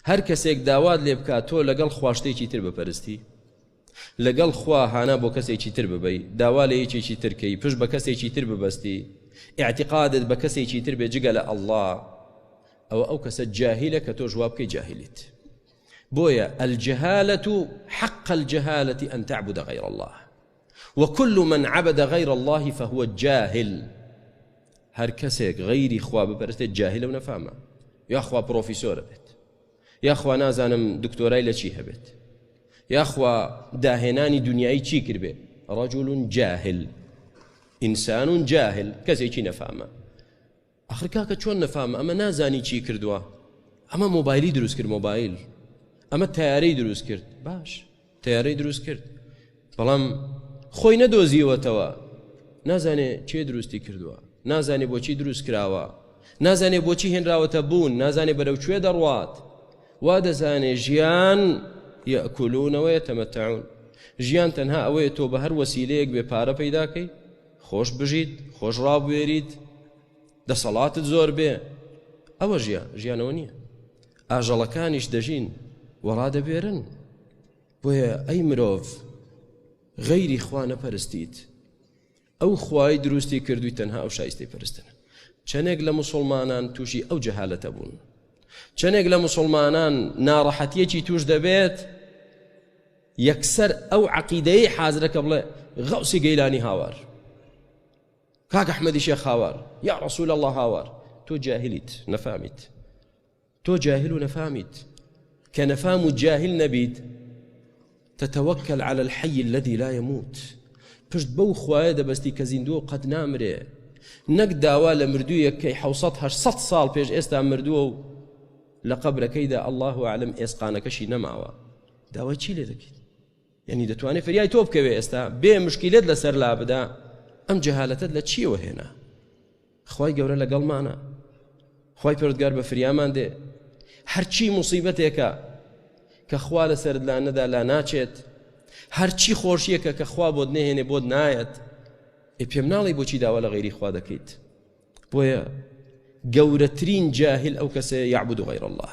هەر کەسێک داوات لێ بکات تۆ لەگەڵ خوا شتێکی تر بپەرستی لەگەڵ خوا هانا بۆ کەسێکی تر ببەی داوا لە یەکێکی ترکەی پشت بە کەسێکی تر ببەستی ئاعتقادت بە کەسێکی تر بێ جگە لە ئەلله ئەوە ئەو کەسە جاهیلە کە تۆ جواب بکەی جاهلیت بۆیە الجهالة حق الجهالة أن تعبد غير الله وکل من عبد غیر اللە فهو جاهل هەر کەسێک غەیری خوا بپەرستێت جاهلە و نەفامە یاخوا پرۆفیسۆرە بێت یاخوا نازانم دکتۆرای لە چی هەبێت یاخوا داهێنانی دنیای چی کردبێ رجل جاهل ئینسان جاهل کەسێکی نەفامە ئەخر کاکە چۆن نەفام ئەمە نازانی چی کردووە ئەمە مۆبایلی دروست کرد مۆبایل ئەمە تیارەی دروست کرد باش تیارەی دروست کرد بەڵام خۆی نەدۆزیوەتەوە نازانێ چێ دروستی کردووە نازانێ بۆچی دروست کراوە نازانێ بۆچی هێنراوەتە بوون نازانێ بەرەو کوێ دەڕوات وا دەزانێ ژیان یەکولونەوەیە تەمەتەعون ژیان تەنها ئەوەیە تۆ بە هەر وەسیلەیەک بێ پارە پەیداکەی خۆش بژیت خۆش ڕابوێریت دەسەڵاتت زۆر بێ ئەوە ژیان ژیانەوە نییە ئاژەڵەکانیش دەژین و ڕادەبێرن بۆیە ئەی مرۆڤ غەیری خوا نەپەرستیت ئەو خوای دروستی کردووی تەنها ئەو شایستی پرستن چەندێک لە مسلمانان تووشی ئەو جەهالەتە بوون چەندێک لە مسلمانان ناڕەحەتیەکی توش دەبێت یەکسەر ئەو عەقیدەیەی حازرە کە بڵێ غەوسی گەیلانی هاوار کاک ئەحمەدی شێخ هاوار یا ڕسول الله هاوار تۆ جاهلیت نەفامیت تۆ جاهل و نەفامیت کە نەفام و جاهل نەبیت تتوكل على الحي الذي لا يموت پشت بەو خوایە دەبستی کە زیندووە و قەت نامرێ نەک داوا لە مردوویەک کەی 1970 ساڵ پێش ئێستا مردووە و لە قبرەکەیدا الله عالم ئێسقانەکەشی نەماوە داوای چی لێ دەکەیت یعنی دەتوانێت فریای تۆ بکەوێ ئێستا بێ مشکیلت لەسەر لا بدا ئەم جەهالەتت لە چیەوە هێنا خی گەورە لەگەڵمانە خی پردگار بە فریامان دێ هەرچی مصیبەتێکە کە خوا لە سەردلان نەدا لا ناچێت هەرچی خۆشیەکە کە خوا بۆت نهێنێ بۆت نایەت ئێ پێم ناڵی بۆچی داوا لە غیری خوا دەکەیت بۆیە گەورەترین جاهل ئەو کەسەیە یعبد غیر الله